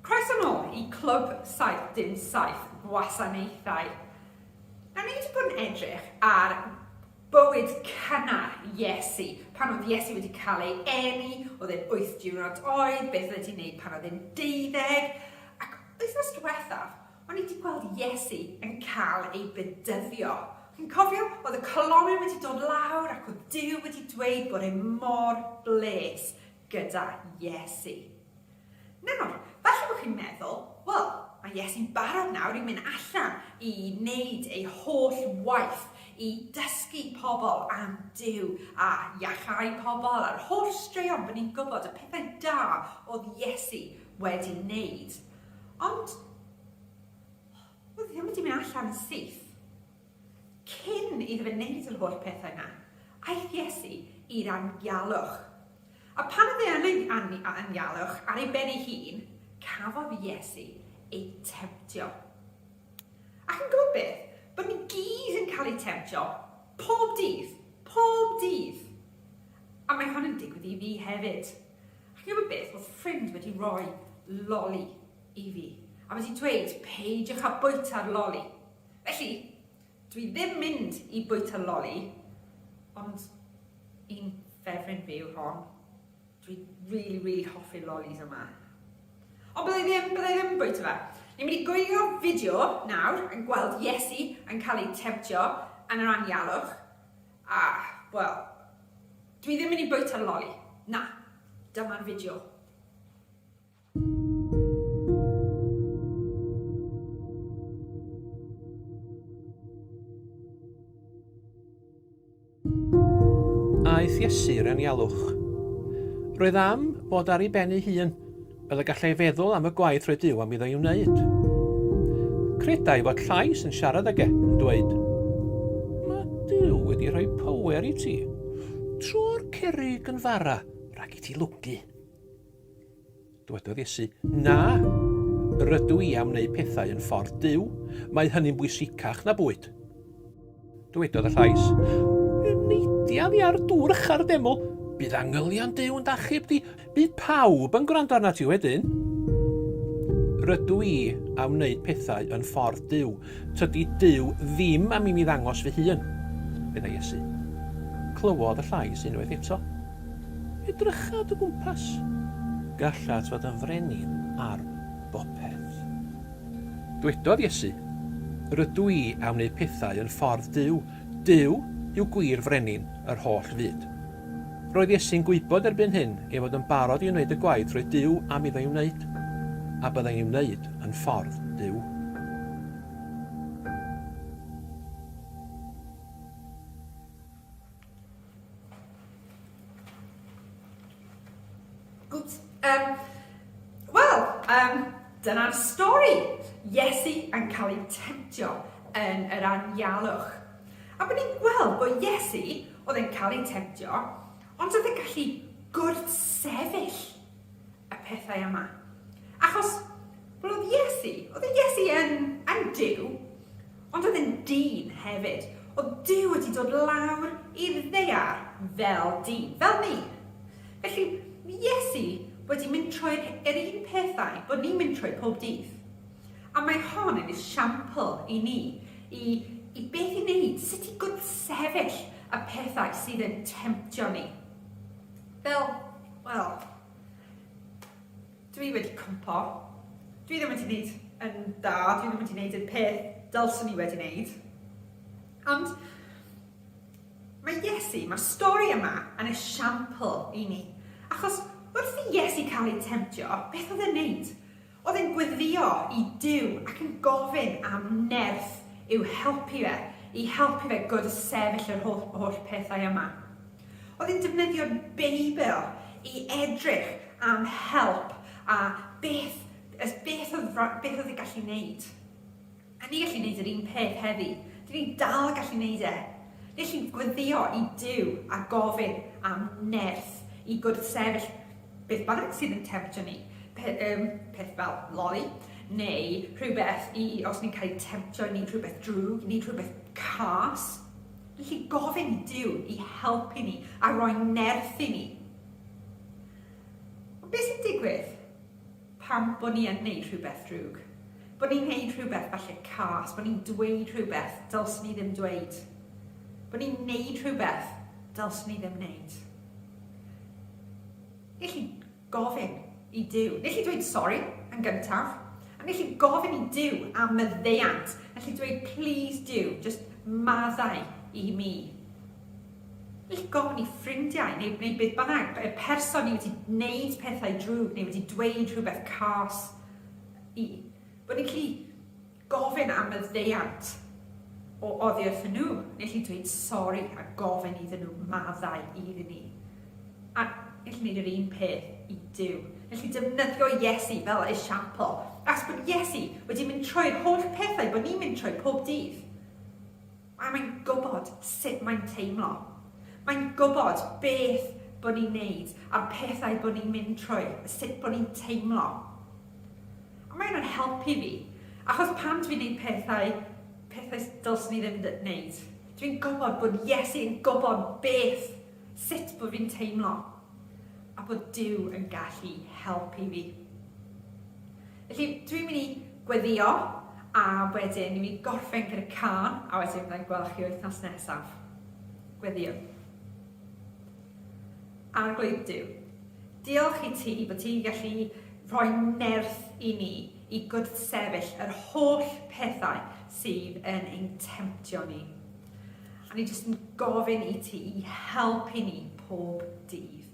Croeso nôl i Clwb 77 Gwasanaethau. Nawr, ni wedi bod yn edrych ar bywyd cynnar Iesu, pan oedd Iesu wedi cael ei eni, oedd e'n wyth diwrnod oed, beth oedd wedi wneud pan oedd e'n deuddeg, ac wythnos diwethaf, O'n i 'di gweld Iesu yn cael ei bedyddio. Chi'n cofio? Oedd y colomyn wedi dod lawr ac oedd Duw wedi dweud bod e mor bles gyda Iesu. Nawr, falle bod chi'n meddwl, wel, mae Iesu'n barod nawr i mynd allan i wneud ei holl waith, i dysgu pobl am Duw a iachau pobl a'r holl straeon bod ni'n gwybod y pethau da oedd Iesu wedi wneud. Ond, oedd hi ddim wedi mynd allan yn syth. Cyn iddo fe wneud yr holl pethau yna, aeth Iesu i'r anialwch. A pan oedd e yn ei anialwch ar ei ben ei hun, cafodd Iesu ei temtio. Ac yn gwybod beth? Bod ni gyd yn cael ei temtio pob dydd, pob dydd. A mae hwn yn digwydd i fi hefyd. A ch'mod beth, o'dd ffrind wedi roi loli i fi, a wedi dweud, peidiwch â bwyta'r loli. Felly, dwi ddim mynd i bwyta loli, ond un ffefryn fi yw hon. Dwi rili, rili hoffi'r lolis yma. Ond byddai ddim, byddai ddim yn bwyta fe. Ni'n mynd i gwylio fideo nawr yn gweld Iesu yn cael ei temtio yn yr anialwch, Ah, wel, dwi ddim yn i bwyta loli. Na, dyma'r fideo. Aeth Iesu i'r anialwch. Roedd am fod ar ei ben ei hun. fel y gallai feddwl am y gwaith roedd Duw am iddo ei wneud. Credai fod llais yn siarad ag e, yn dweud, Mae Duw wedi rhoi power i ti. Tro'r cerig yn fara rhag i ti lwgu. Dywedodd Iesu, Na, rydw i am wneud pethau yn ffordd Duw, mae hynny'n bwysicach na bwyd. Dywedodd y llais, Neidia fi ar dŵr ycha'r deml, bydd angylion Duw yn dachub di, bydd pawb yn gwrando arnat ti wedyn. Rydw i am wneud pethau yn ffordd Duw. Tydi Duw ddim am i mi ddangos fy hun, medda Iesu. Clywodd y llais unwaith eto. Edrycha dy gwmpas. Gallat fod yn frenin ar bopeth. Dwedodd Iesu, Rydw i am wneud pethau yn ffordd Duw. Duw yw gwir frenin yr holl fyd. Roedd Iesu'n gwybod erbyn hyn ei fod yn barod i wneud y gwaith roedd Duw am iddo ei wneud, a byddai'n ei wneud yn ffordd Duw. Gwt, um, wel, um, dyna'r stori. Iesu yn cael ei temtio yn yr anialwch. A bod ni'n gweld bod Iesu oedd yn cael ei temtio, ond oedd yn gallu gwrthsefyll y pethau yma. Achos, wel oedd Iesu, oedd Iesu yn, yn Dyw, Ond oedd e'n dyn hefyd. Oedd Duw wedi dod lawr i'r ddaear fel dyn, fel ni. Felly, mae Iesu wedi mynd trwy'r yr un pethau bod ni'n mynd trwy pob dydd. A mae hon yn esiampl i ni i i beth i wneud, sut i gwrthsefyll y pethau sydd yn temtio ni. Fel, wel, Dwi wedi cwmpo. Dwi ddim wedi neud yn dda, dwi ddim wedi neud y peth dylswn i wedi neud. Ond mae Iesu, mae'r stori yma yn esiampl i ni. Achos wrth i Iesu cael ei temtio, beth oedd e'n neud? Oedd e'n gweddïo i Duw ac yn gofyn am nerth i'w helpu fe, i helpu fe god y sefyll yr holl, holl pethau yma. Oedd yn defnyddio'r Beibl i edrych am help a beth, beth, oedd, beth oedd yn gallu wneud. A ni'n gallu wneud yr un peth heddi. Dyn ni'n dal gallu wneud e. Ni'n gallu gweddio i Dyw a gofyn am nerth i gwrthsefyll beth bynnag sydd yn temtio ni. Pe, um, peth fel loli, neu rhywbeth i, os ni'n cael ei temtio i wneud rhywbeth drwg, i wneud rhywbeth cas. Felly gofyn i Duw i helpu ni a roi nerth i ni. Ond beth sy'n digwydd pan bod ni yn gwneud rhywbeth drwg? Bod ni'n gwneud rhywbeth falle cas, bod ni'n dweud rhywbeth dylswn ni ddim dweud. Bod ni'n gwneud rhywbeth dylswn ni ddim wneud. Felly, gofyn i Duw. Wnei chi dweud sori yn gyntaf, a wnei chi gofyn i Duw am maddeuant. Wnei chi dweud, Plîs Duw, jyst maddau i mi. Wnei chi gofyn i ffrindiau, neu, neu beth bynnag, y person ni wedi gwneud pethau drwg, neu wedi dweud rhywbeth cas i, bod ni'n gallu Gofyn am maddeuant o oddi wrthyn nhw, neu alli dweud sori a gofyn iddyn nhw maddau iddyn ni. A alli wneud yr un peth i Duw. Alli defnyddio Iesu fel esiampl, achos bod Iesu wedi mynd trwy'r holl pethau bod ni'n mynd trwy pob dydd. A mae'n gwybod sut mae'n teimlo. Mae'n gwybod beth bod ni'n wneud a'r pethau bod ni'n mynd trwy, sut bod ni'n teimlo. A mae hynna'n helpu fi, achos pan dwi'n gwneud pethau, pethau dylswn i ddim wneud, dwi'n gwybod bod Iesu yn gwybod beth, sut bod fi'n teimlo, a bod Duw yn gallu helpu fi. Felly, dwi'n mynd i gweddio, a wedyn ni'n mynd i gorffen gyda cân, a wedyn fydda i'n gweld chi wythnos nesaf. Gweddio. Arglwydd Duw, diolch i ti bod ti'n gallu rhoi nerth i ni i gwrthsefyll yr holl pethau sydd yn ein temtio ni. A ni jyst yn gofyn i ti i helpu ni pob dydd.